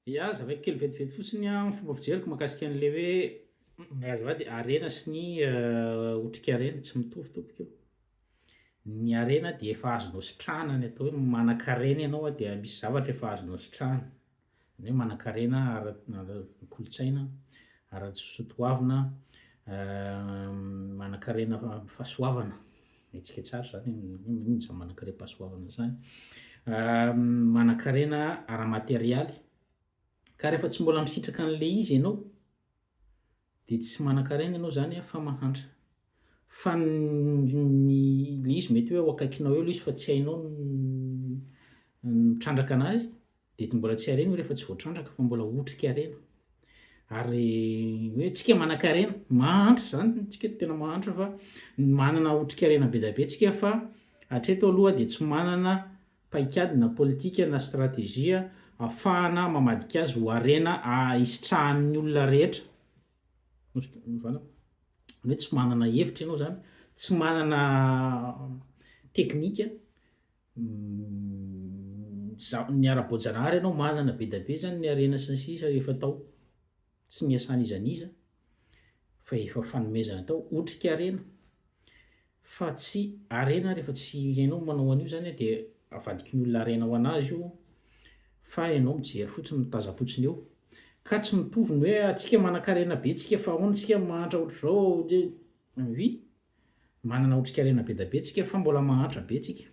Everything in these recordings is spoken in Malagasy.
Ya, zavaiko kely vetivety fotsiny an, ny fomba fijeriko mahakasika an'ilay hoe raha azafady harena sy ny otrikarena tsy mitovy tompoko io, ny harena dia efa azonao sitrahana ny atao hoe manankarena ianao an dia misy zavatra efa azonao sitrahana, ny hoe manankarena ara- ny kolontsaina, ara-tssotoavina, manankarena fahasoavana. Hetsika tsara izany hoe inona manankarem-pahasoavana izany. Manankarena ara-materialy. Ka rehefa tsy mbola misitraka an'ilay izy ianao dia tsy manankarena ianao izany fa mahantra. Fa ny ilay izy mety hoe ao akaikinao eo ilay izy fa tsy hainao ny mitrandraka an'azy Didy mbola tsy harena io rehefa tsy voatrandraka fa mbola otrika harena. Ary hoe tsika manan-karena, mahantra izany, tsika tena mahantra fa manana otrika harena be dia be tsika fa hatreto aloha dia tsy manana paikady na politika na stratejia afahana mamadika azy ho harena ahisitrahan'ny olona rehetra. Zany hoe tsy manana hevitra ianao zany, tsy manana teknika ny ara-boajanahary ianao manana be dia be izany ny harena sy ny sisa rehefa atao tsy niasan'iza n'iza fa efa fanomezana atao otrikaharena fa tsy harena ary efa tsy ianao no manao an'io izany dia avadikin'ny olona harena ho an'azy io fa ianao mijery fotsiny mitazam-potsiny eo ka tsy mitovy ny hoe antsika manan-karena be tsika fa ahoana tsika mahantra ohatr'izao dia oui Manana otrikarena be da be tsika fa mbola mahantra be tsika.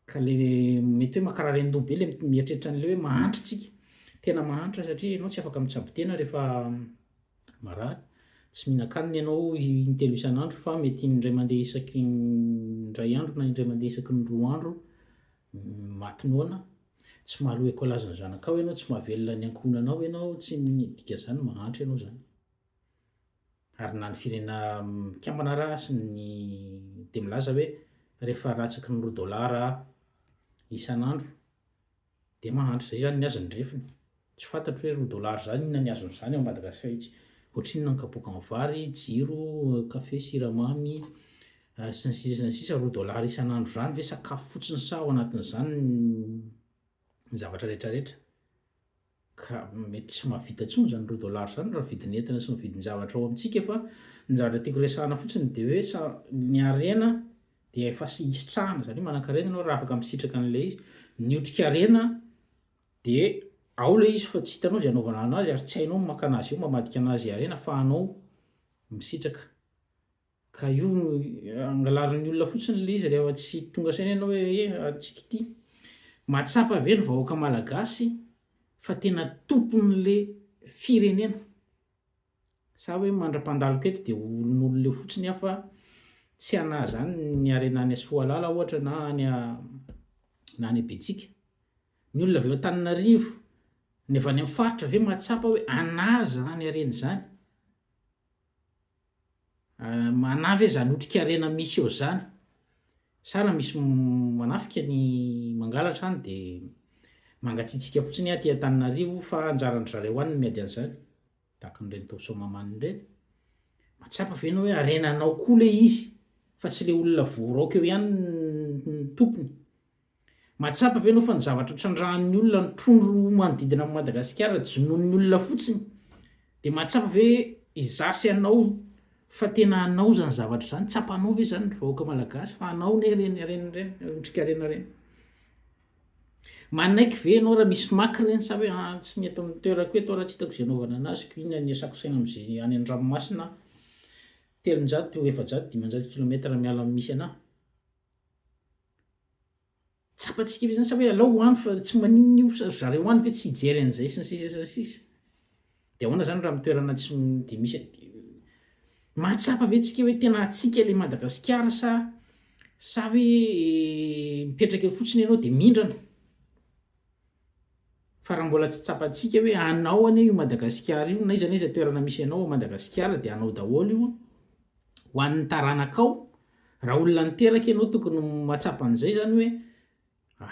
Ka le mety hoe makararendoha be le mieritreritra an'le hoe mahantra tsika. Tena mahantra satria ianao tsy afaka mitsabo tena rehefa marary. Tsy mihinan-kanina ianao intelo isan'andro fa mety indray mandeha isaky ny indray andro na indray mandeha isaky ny roa andro maty noana. Tsy mahaloa écolage ny zanakao ianao, tsy mahavelona ny ankohonanao ianao, tsy midika zany mahantra ianao zany. Ary na ny firenena mikambana ara sy ny dia milaza hoe rehefa ratsaky ny roa dolara isan'andro dia mahantra. Izay izany ny azy ny refiny. Tsy fantatro hoe roa dolara izany inona ny azony izany ao Madagascar etsy. Ohatrinona ny kapoakan'ny vary, jiro, kafe, siramamy, sy ny sisa sy ny sisa. Roa dolara isan'andro izany ve sakafo fotsiny sa ao anatin'izany ny zavatra rehetra rehetra? Ka mety tsy mahavita intsony izany roa dollars izany raha vidin'entana sy ny vidin-javatra ao amintsika fa ny zavatra tiako resahana fotsiny dia hoe sa ny harena dia efa hisitrahana izany hoe manan-karena ianao raha afaka misitraka an'ilay izy. Ny otrikarena dia ao ilay izy fa tsy hitanao izay anaovana anazy ary tsy hainao ny maka anazy eo mamadika anazy harena fa anao misitraka. Ka io no angalarin'ny olona fotsiny ilay izy rehefa tsy tonga saina ianao hoe e antsika ity. Mahatsapa ve ny vahoaka malagasy fa tena tompon'le firenena? Sa hoe mandra-pandaloka eto dia olon'olona eo fotsiny aho fa tsy hanahy izany ny harena any Soalala ohatra na any na any Betsika. Ny olona avy ao Antananarivo, ny avy any amin'ny faritra ve mahatsapa hoe anahy izany harena izany? Manà ve zany otrikarena misy eo zany? Sa raha misy manafika ny mangalatra any de mangatsiatsiaka fotsiny aty Antananarivo fa anjaran-dry zareo any ny miady an'zany? Tahaka an'ireny tao Soamahamanina ireny? Mahatsapa ve anao hoe harenanao koa le izy fa tsy le olona voaraoka eo ihany no tompony? Mahatsapa ve ianao fa ny zavatra trandrahan'ny olona ny trondro manodidina an'i Madagasikara jonoin'ny olona fotsiny? Dia mahatsapa ve izaho sy ianao fa tena hanao izany zavatra izany? Tsapanao ve izany ry vahoaka malagasy fa hanao anie ireny harena ireny, ireny otrikarena ireny? Manaiky ve ianao raha misy maka ireny sa hoe ah, tsy ny eto amin'ny toerako eto aho raha tsy hitako izay hanaovana an'azy ko iny anisako saina amin'izay any an-dranomasina aho, telonjato, efajato, dimanjato kilometatra miala amin'ny misy anah? Tsapantsika ve zany sa hoe alao any fa tsy maninona io sa ry zareo any ve tsy hijery an'izay sy ny sisa sy ny sisa. De ahoana zany raha am'toerana tsy de misy an- mahatsapa ve tsika hoe tena antsika le Madagasikara sa sa hoe mipetraka eo fotsiny ianao de mindrana. fa raha mbola tsy tsapantsika hoe anao anie io Madagasikara io, n'aiza n'aiza toerana misy anao ao Madagasikara dia anao daholo io ho an'ny taranakao, raha olona niteraka ianao tokony mahatsapa an'izay zany hoe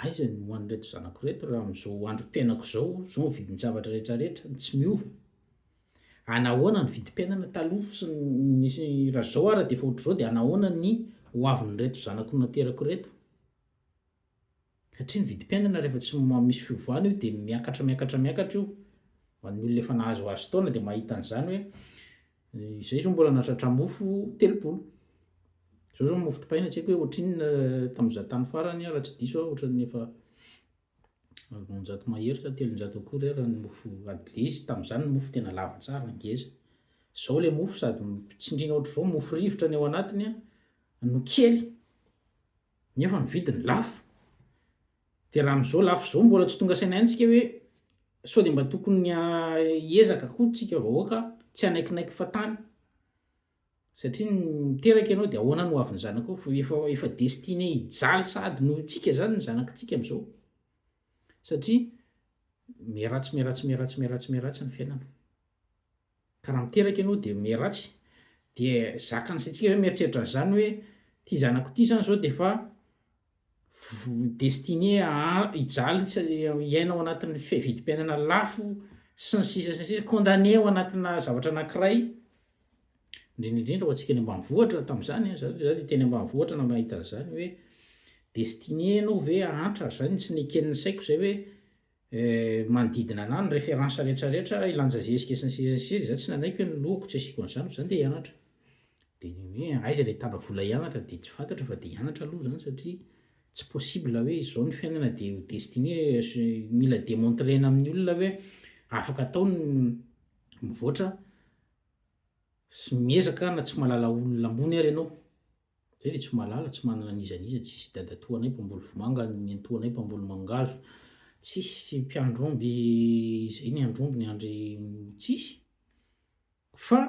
aiza ny ho an'ireto zanako ireto raha amin'izao androm-piainako izao, izao ny vidin-javatra rehetra rehetra no tsy miova, anahoana ny vidim-piainana taloha sy ny nisy raha izao ary dia efa ohatr'izao dia anahoana ny ho avin'ireto zanako naterako ireto. Satria ny vidim-piainana rehefa tsy misy fiovana io dia miakatra miakatra miakatra io. Ho an'ny olona efa nahazoazo taona dia mahita an'izany hoe izay izao mbola nahatratra mofo telopolo. Izao izao ny mofo dipaina tsy haiko hoe ohatrinona tamin'izaho tany farany raha tsy diso aho ohatran'ny efa roanjato mahery sa telonjato akory ary ny mofo adlez tamin'izany ny mofo tena lava tsara ngeza. Izao ilay mofo sady tsindriana ohatr'izao mofo rivotra ny ao anatiny no kely. nefa ny vidiny lafo, dia raha amin'izao lafo izao mbola tsy tonga saina ihany tsika hoe sao dia mba tokony hiezaka koa tsika vahoaka tsy hanaikinaiky fa tany satria ny miteraka ianao dia ahoana no avy ny zanakao fa efa efa destiné hijaly sahady noho itsika zany ny zanakitsika am'izao satria miharatsy miharatsy miharatsy miharatsy miharatsy ny fiainana Ka raha miteraka ianao dia miha ratsy, dia zakan'ny saintsika zany mieritreritra an'izany hoe ity zanako ity zany zao dia efa voa destiné ha- hijaly sy hiaina ao anatin'ny fi- vidim-piainana lafo sy ny sisa sy ny sisa, condamné ao anatina zavatra anankiray, indrindra indrindra ho antsika any ambanivohitra tamin'izany an, za za dia teny ambanivohitra na- nahita an'izany hoe destiné ianao ve hahantra, zay no tsy neken'ny saiko zay hoe. manodidina anah ny référence rehetra rehetra ilanja zezika sy ny sisa sy ny sisa, za tsy nanaiky hoe ny lohako tsy asiako an'zany fa za ndeha hianatra de ny hoe aiza le tana vola hianatra de tsy fantatra fa de hianatra aloha zany satria tsy possible hoe izao ny fiainana de ho destiné mila demontrena amin'ny olona hoe afaka atao ny mivoatra sy miezaka na tsy mahalala olona ambony ary ianao. Zay dia tsy malala, tsy manana n'iza n'iza, tsisy dadatoanay mpamboly vomanga, nenitoanay mpamboly mangahazo, tsisy mpiandry omby izay niandry omby niandry tsisy, fa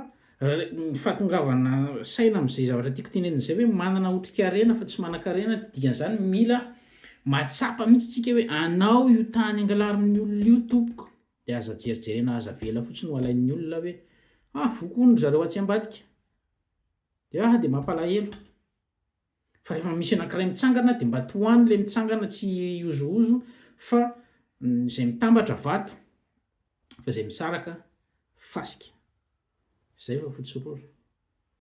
ny fahatongavana saina amin'izay zavatra tiako tenenina izay hoe manana otrikarena fa tsy manankarena dia dikan'izany mila mahatsapa mihitsy tsika hoe anao io tany angalarin'ny olona io tompoko dia aza jerijerena aza avela fotsiny ho alain'ny olona hoe ah voa koa ny zareo atsy ambadika DH, dia mampalahelo fa rehefa misy anankiray mitsangana dia mba tohano ilay mitsangana tsy hihozohozo fa izay mitambatra vato fa izay misaraka fasika. Izay fa fotsy orora.